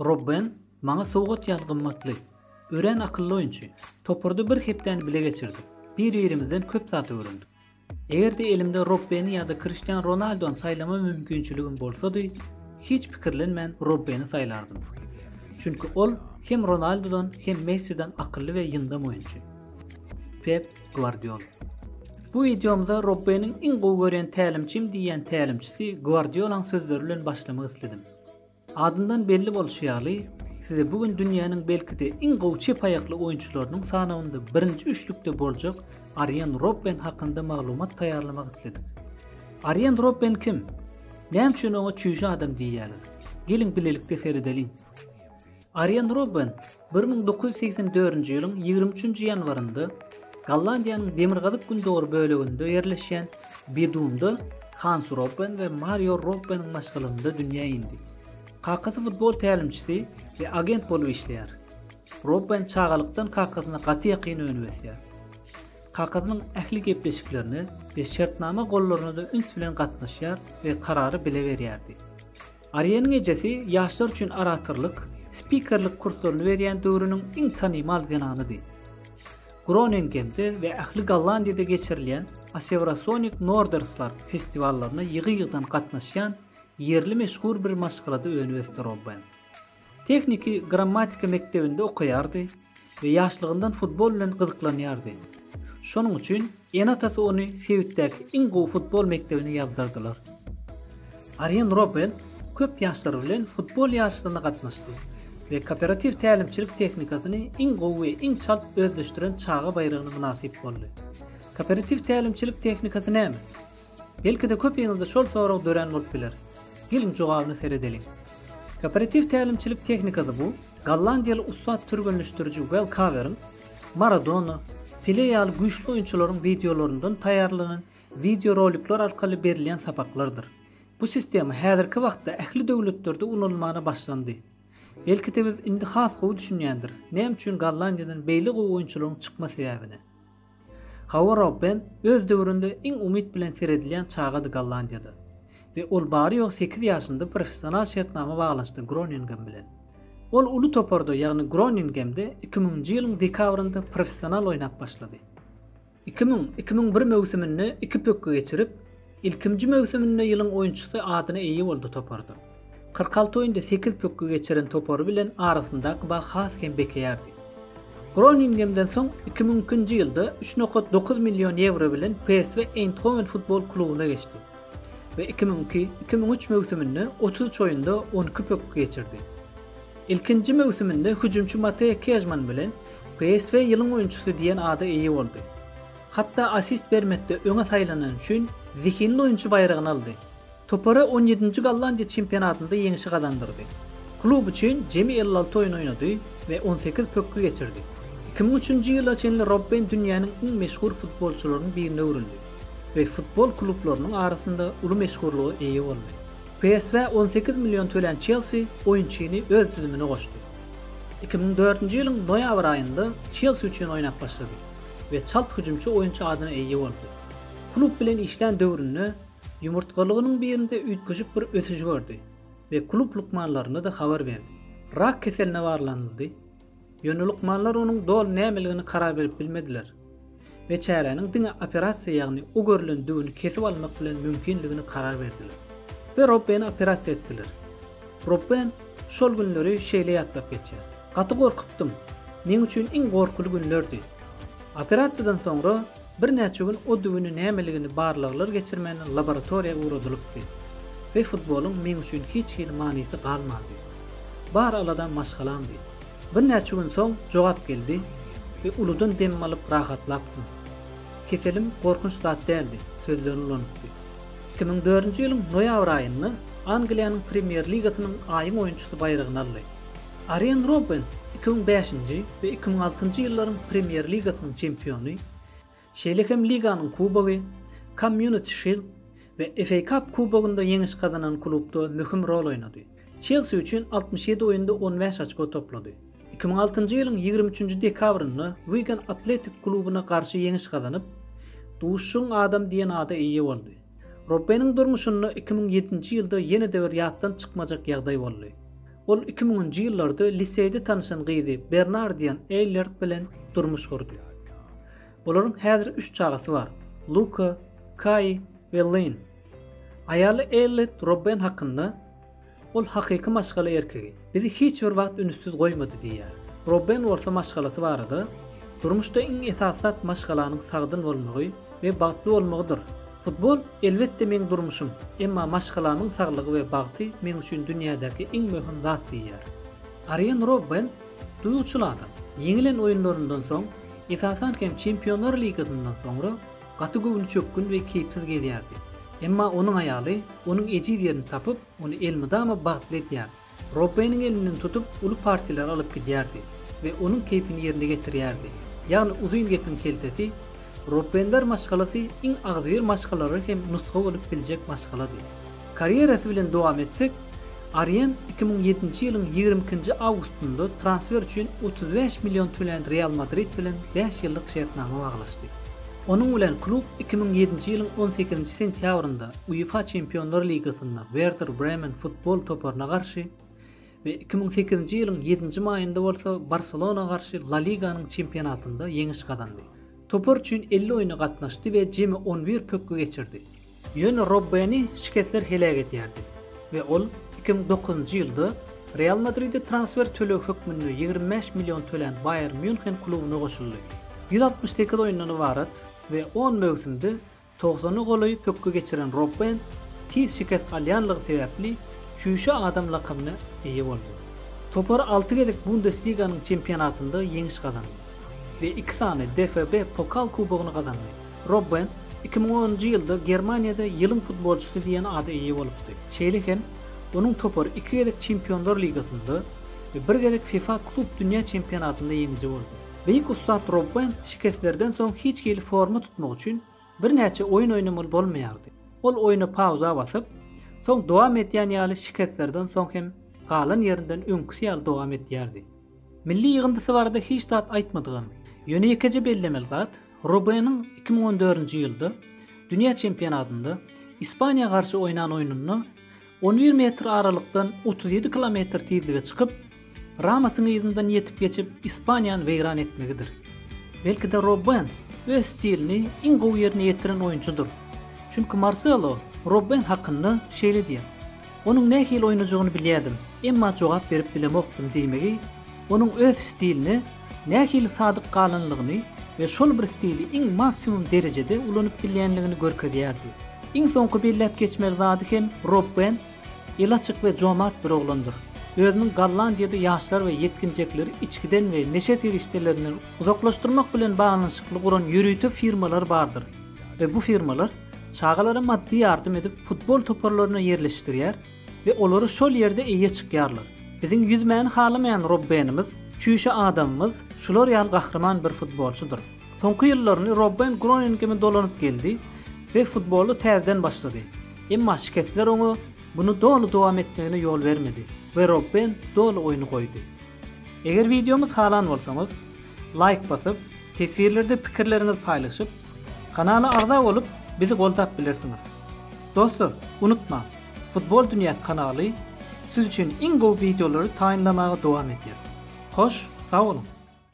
Robben, Maňa sowgat ýaly gymmatly. Örän akylly oýunçy. Toparda bir hepdäni bile geçirdik. Bir-birimizden köp zat öwrendik. Eger-de elimde Robbeni ýa-da Kriştian Ronaldony saýlama mümkinçiligim bolsady, hiç pikirlenmän Robbeni saýlardym. Çünki ol hem Ronaldodan, hem Messiden akylly we ýyndam oýunçy. Pep Gwardiola. Bu wideomyza Robbeniň iň gowy görýän tälimçim diýýän tälimçisi Gwardiola-nyň sözleri bilen başlamak isledim. Adyndan belli bolşy ýaly, size bu gün dünýäniň belki-de iň gowy çep aýakly oýunçylarynyň sanawynda birinji üçlükde boljak Arýen Robben hakynda maglumat taýýarlamak isledik. Arýen Robben kim? Näme üçin oňa çüýşe adam diýýärler? Geliň bilelikde seredeliň. Arýen Robben bir müň dokuz ýüz segsen dördünji ýylyň ýigrimi üçünji ýanwarynda Gollandiýanyň demirgazyk-gündogar böleginde ýerleşýän Bedumda Hans Robben we Marýo Robbeniň maşgalasynda dünýä indi. Kakasy futbol tälimçisi we agent bolup işleýär. Robben çagalykdan kakasyna gaty ýakyn önüp ösýär. Kakasynyň ähli gepleşiklerine we şertnama gollaryna-da üns bilen gatnaşýar we karary bile berýärdi. Aryýanyň ejesi ýaşlar üçin oratorlyk, spikerlik kurslaryny berýän döwrüniň iň tanymal zenanydy. Groningemde we ähli Gollandiýada geçirilýän Aseurasonik Norderslar festiwallaryna ýygy-ýygydan gatnaşýan ýerli meşhur bir maşgalada önüp ösdi Robben. Tehniki grammatika mekdebinde okaýardy we ýaşlygyndan futbol bilen gyzyklanýardy. Şonuň üçin ene-atasy ony sebitdäki iň gowy futbol mekdebine ýazdyrdylar. Arýen Robbel köp ýaşlar bilen futbol ýaryşlaryna gatnaşdy we kooperatiw tälimçilik tehnikasyny iň gowy we iň çalt özleşdiren çaga baýragyna mynasyp boldy. Kooperatiw tälimçilik tehnikasy näme? Belki-de köpiňizde şol sorag dörän bolup biler. Geliň jogabyna seredeliň. Kooperatiw tälimçilik tehnikasy bu gollandiýaly ussat türgenleşdiriji Wel Kaweriň Maradona, Pele ýaly güýçli oýunçylaryň wideolaryndan taýýarlanan wideorolikler arkaly berilýän sapaklardyr. Bu sistema häzirki wagtda ähli döwletlerde ulanylmana başlandy. Belki-de biz indi has gowy düşünýändiris, näme üçin Gollandiýadan beýle gowy oýunçylaryň çykma sebäbini. Hawa Robben öz döwründe iň umyt bilen seredilýän çagady Gollandiýada we ol bary-ýogy sekiz ýaşynda professional şertnama baglaşdy Groningem bilen. Ol uly toparda, ýagny Groningemde iki müňünji ýylyň dekabrynda professional oýnap başlady. Iki müň, iki müň bir möwsüminde iki pökgi geçirip, Ilkinji möwsüminde ýylyň oýunçysy adyna eýe boldy toparda. Kyrk alty oýunda sekiz pökgi geçiren topary bilen arasyndaky bag has hem bekeýärdi. Groningemden soň iki müň ikinji ýylda üç nokat dokuz million ýewro bilen PSV Eýndhowen futbol klubyna geçdi we iki müň iki, iki müň üç möwsüminde otuz üç oýunda on iki pökgi geçirdi. Ilkinji möwsüminde hüjümçi Mateýa Kežman bilen PSV ýylyň oýunçysy diýen ada eýe boldy. Hatda assist bermekde öňe saýlanany üçin Zehinli oýunçy baýragyny aldy. Topara on ýedinji Gollandiýa çempionatynda ýeňşi gazandyrdy. Klub üçin jemi elli alty oýun oýnady we on sekiz pökgi geçirdi. Iki müň üçünji ýyla çenli Robben dünýäniň iň meşhur futbolçylarynyň birine öwrüldi we futbol klublarynyň arasynda uly meşhurlyga eýe boldy. PSV on sekiz million tölän Çelsi oýunçyny öz düzümine goşdy. Iki müň dördünji ýylyň noýabr aýynda Çelsi üçin oýnap başlady. we çalt hüjümçi oýunçy adyna eýe boldy. Klub bilen işlän döwründe ýumurtgalygynyň birinde üýtgeşik bir ösüş gördi we klub lukmanlaryna-da habar berdi. Rak keseline barlanyldy, ýöne lukmanlar onuň doly nämeligini karar berip bilmediler we çäräniň diňe operasiýa ýagny o görlen düwüni kesip almak bilen mümkinligini karar berdiler we Robbeni operasiýa etdiler. Robben şol günleri şeýle ýatlap geçýär, Gaty gorkupdym. Meň üçin iň gorkuly günlerdi. Operasiýadan soňra birnäçe gün o düwüni nämeligini barlaglar geçirmän laboratoriýa ugradylypdy we futbolyň meň üçin hiç hili manysy galmandy. Bar aladam maşgalamdy. Birnäçe gün soň jogap geldi we uludan dem alyp rahatlapdym. Keselim gorkunç zat däldi, sözlerini ulanypdy. Iki müň dördünji ýylyň noýabr aýynda Angliýanyň Premýer ligasynyň aýyň oýunçysy baýragyny aldy. Arýen Robben iki müň bäşinji we iki müň altynjy ýyllaryň Premýer ligasynyň çempiony, şeýle hem liganyň kubogy, Community Shield we FA Cup kubogynda ýeňiş gazanan klubda möhüm rol oýnady. Çelsi üçin altmyş ýedi oýunda on bäş açko toplady. Iki müň altynjy ýylyň ýigrimi üçünji dekabrynda Wigan Athletic klubuna garşy ýeňiş gazanyp, Duşuşygyň adamy diýen ada eýe boldy. Robbeniň durmuşynda iki müň ýedinji ýylda ýene-de bir ýatdan çykmajak ýagdaý boldy. Ol iki müňünji ýyllarda liseýde tanyşan gyzy Bernardian Eýllert bilen durmuş gurdy. Olaryň häzir üç çagasy bar, Luka, Kai we Lyn. Aýaly Ellet Robben hakynda, Ol hakyky maşgala erkegi. Bizi hiç bir wagt ünssüz goýmady diýýär. Robben bolsa maşgalasy barada, Durmuşda iň esasy zat maşgalanyň sagdyn bolmagy we bagtly bolmagydyr. Futbol, elbetde, meň durmuşym, emma maşgalamyň saglygy we bagty meň üçin dünýädäki iň möhüm zat diýýär. Arýen Robben duýguçyl adam. Ýeňilen oýunlaryndan soň, esasan hem Çempionlar ligasyndan soňra, Gaty göwnüçökgün we keýpsiz gezýärdi. Emma onuň aýaly onuň ejiz ýerini tapyp, ony elmydama bagtly edýär. Robbeniň elinden tutup, uly partiýalara alyp gidýärdi we onuň keýpini ýerine getirýärdi. Ýagny uzyn gepiň keltesi, Robbenler maşgalasy iň agzybir maşgalalary hem nusga bolup biljek maşgalady. Karýerasy bilen dowam etsek, Arian iki müň ýedinji ýylyň ýigrimi ikinji awgustynda transfer üçin otuz bäş million tölän Real Madrid bilen bäş ýyllyk şertnama baglaşdy. Onuň bilen klub iki müň ýedinji ýylyň on sekizinji sentýabrynda UEFA Çempionlar ligasynda Werder Bremen futbol toparyna garşy we iki müň sekizinji ýylyň ýedinji maýynda bolsa Barselona garşy La Liganyň çempionatynda ýeňiş gazandy. Topar üçin elli oýna gatnaşdy we jemi on bir pökgi geçirdi. Ýöne Robbeni şikesler heläk edýärdi we ol iki müň dokuzynjy ýylda Real Madride transfer tölegi hökmünde ýigrimi bäş million tölän Baýern Mýunhen klubuna goşuldy. Ýüz altmyş sekiz oýundan ybarat we on möwsümde togsana golaý pökgi geçiren Robben tiz şikes alýanlygy sebäpli Çüýşe adam lakamyna eýe boldy. Topar alty gezek Bundesliganyň çempionatynda ýeňiş gazandy we iki sany DFB Pokal kubogyny gazandy. Robben iki müň onunjy ýylda Germaniýada ýylyň futbolçysy diýen ada eýe bolupdy. Şeýle hem, onuň topary iki gezek Çempionlar ligasynda we bir gezek fifa klub dünýä çempionatynda ýeňiji boldy. Beýik ussat Robben şikeslerden soň hiç hili forma tutmak üçin birnäçe oýun oýnamaly bolmaýardy. Ol oýna pauza basyp, soň dowam edýän ýaly şikeslerden soň hem galan ýerinden öňküsi ýaly dowam edýärdi. Milli ýygyndysy barada hiç zat aýtmadygam, ýöne ýekeje bellemeli zat, Robeniň iki müň on dördünji ýylda dünýä çempionatynda Ispaniýa garşy oýnan oýnunda on bir metr aralykdan otuz ýedi kilometr tizlige çykyp, Ramosyň yzyndan ýetip geçip Ispaniýany weýran etmegidir. Belki-de Roben öz stilini iň gowy ýerine ýetiren oýunçydyr. Çünki Marselo Roben hakynda şeýle diýýär, Onuň nähili oýnajagyny bilýärdim, emma jogap berip bilemokdym diýmegi onuň öz stiline nähili sadyk galanlygyny we şol bir stili iň maksimum derejede ulanyp bilýänligini görkezýärdi. Iň soňky belläp geçmeli zady hem Rob Bent eli açyk we jomart bir oglandyr. Özüniň Gollandiýada ýaşlar we ýetginjekleri içgiden we neşe serişdelerinden uzaklaşdyrmak bilen baglanyşykly guran ýörite firmalar bardyr we bu firmalar çagalara maddy ýardam edip futbol toparlaryna ýerleşdirýär We olary şol ýerde eýe çykýarlar. Biziň ýüzmäni halamaýan Robbenimiz, çüýşe adamymyz şular ýaly gahryman bir futbolçydyr. Soňky ýyllaryny Robben Groningeme dolanyp geldi we futboly täzeden başlady. Emma şikesler oňa muny doly dowam etmegine ýol bermedi we Robben doly oýny goýdy. Eger wideomyz halan bolsaňyz, laýk basyp, teswirlerde pikirleriňizi paýlaşyp, kanala agza bolup, bizi goldap bilersiňiz. Dostlar, unutmaň, Futbol dünýäsi kanaly siz üçin iň gowy wideolary taýynlamaga dowam edýär. Hoş, sag boluň!